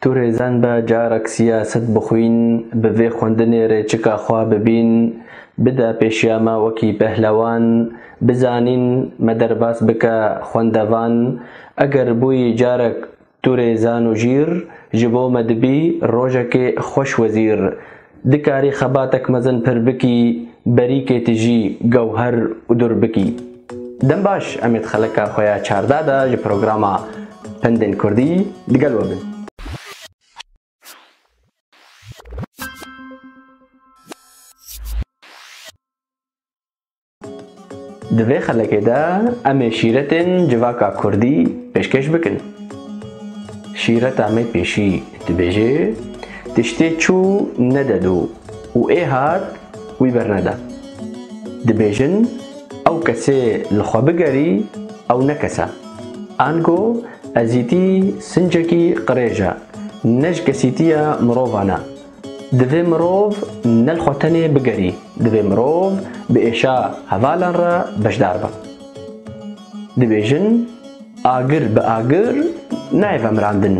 Tu rêzen be carek siyaset bixwîn, bi vê xwendinê rê çika xwe bibîn, bide pêşiya me wekî pehlewan, bizanîn me derbas bike xwendevan, eger bûyî carek tu rêzan û jîr, ji bo me dibî rojekê xweş wezîr, Dikarî xebatek mezin pir bikî, berîkê tijî, gewher û dur bikî. Dem baş, em ê di xelika xwe ya çardeh de ji programa Pendên Kurdî di gel we bin. Di vê xelekê de em ê şîretên civaka kurdî pêşkêş bikin. Şîreta me pêşî dibêje, Tiştê çû nede dû û ê hat wî bernede. Dibêjin ew kesê li xwe bigerî ew ne kes e. Ango ezîtî sincekî qirêj e, ne ji kesîtiya mirovan e. Divê mirov ne li xwe tenê bigerî, divê mirov bi êşa hevalan re beşdar be. Dibêjin agir bi agir nayê vemirandin.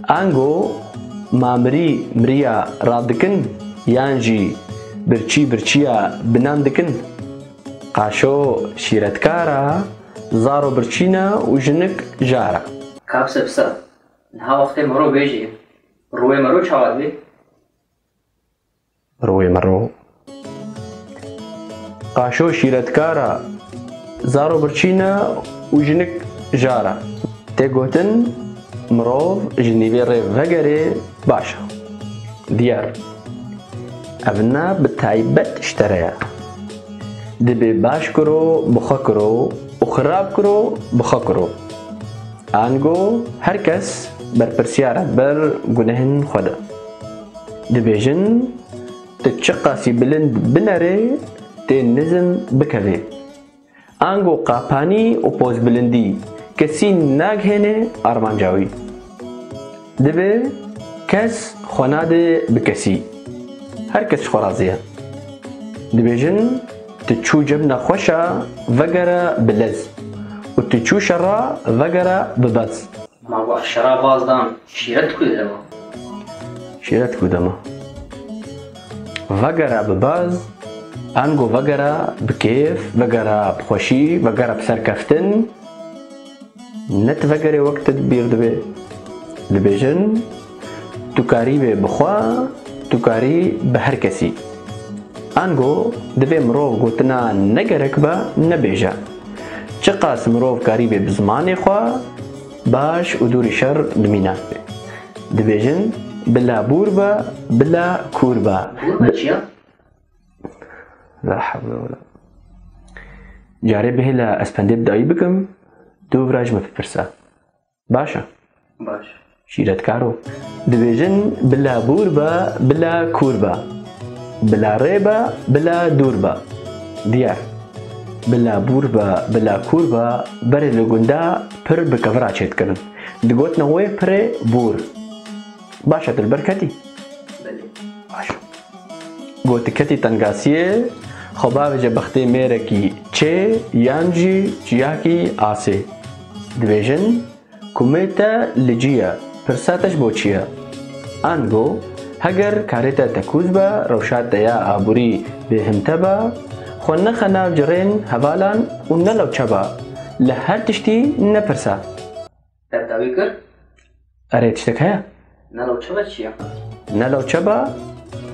Ango ma mirî miriya radikin yan jî birçî birçîya binan dikin. Qaşo şîretkar e, zaro birçîn e û jinik jar e. Kabse bi ser e. Niha wextê mirov bêjî Rûê me ro çawa dibê? Rûê me ro qaşo şîretkar a, zaro birçîn a û jinik jar a. Tê gotin mirov ji nîvê rê vegerê baş e. Diyar ev na bi taybet ji te re ye. Dibê baş kiro bi xwe kiro û xirab kiro bi xwe kiro. Ango her kes berpirsiyar e ber gunehên xwe de. Dibêjin tu çiqasî bilind binerê tê nizm bikevê. Ango qapanî û pozbilindî kesî nagihêne armanca wî. Divê kes xwe nade bi kesî. Her kes ji xwe razî ye. Dibêjin tu çû cebna xweş a vegere bi lez û tu çû şer a vegere bi bez. Ma wextê şera baz dan şîret ku dema. Şîret ku dema. Vegere bi bez, ango vegere bi kêf, vegere bi xweşî, vegere bi serkeftin. Ne tu vegerê wek te bîr dibe. Dibêjin tu karî bê bi xwe, tu karî bi her kesî. Ango divê mirov gotina ne gerek be nebêje. Çiqas mirov karî bê bi zimanê xwe baş û dûrî şer dimîne. Dibêjin bila bûr be bila kûr be. La hevle wala. Carê bihêle ez pendê bi dayî bikim, dû vira ji min bipirse. Baş e? Baş. Şîretkar o. Dibêjin bila bûr be, bila kûr be. Bila rê be, bila dûr be. Diyar. Bila bûr be, bila kûr be, berê li gunda pir bi kevira çêdikirin. Digotin wê pirê bûr. Baş e tu li ber ketî? Belê. Baş. Gotik hetî tengasiyê xwe bavêje bextê mêrekî çê yan jî çiyakî asê. Dibêjin ku mê te li cî ye, pirsa te ji bo çi ye? Ango heger karê te tekûz be, rewşa te ya aborî bêhimte be, xwe nexe nav cirên hevalan û nelewçe be, li her tiştî nepirse. Te dawî kir? Erê tiştek heye? Ne lewçeba çi ye? Ne lewçeba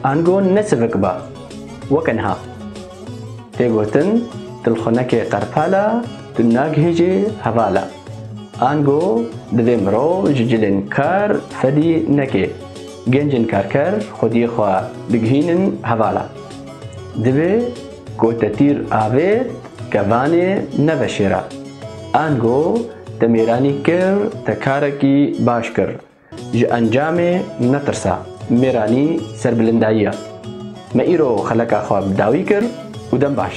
ango ne sivik ba. Weke niha. Tê gotin dilxunekê qerpala tu nagihîjî hevala. Ango divê mirov ji cilên kar fedî neke. Gencên karker xwediyê xwe digihînin hevala. Divê ku te tîr avêt kevanê neve şêra. Ango te mêranî kir, te karekî baş kir. Ji encamê netirsa, mêranî serbilindayî ye. Me îro xeleka xwe bi dawî kir û dem baş.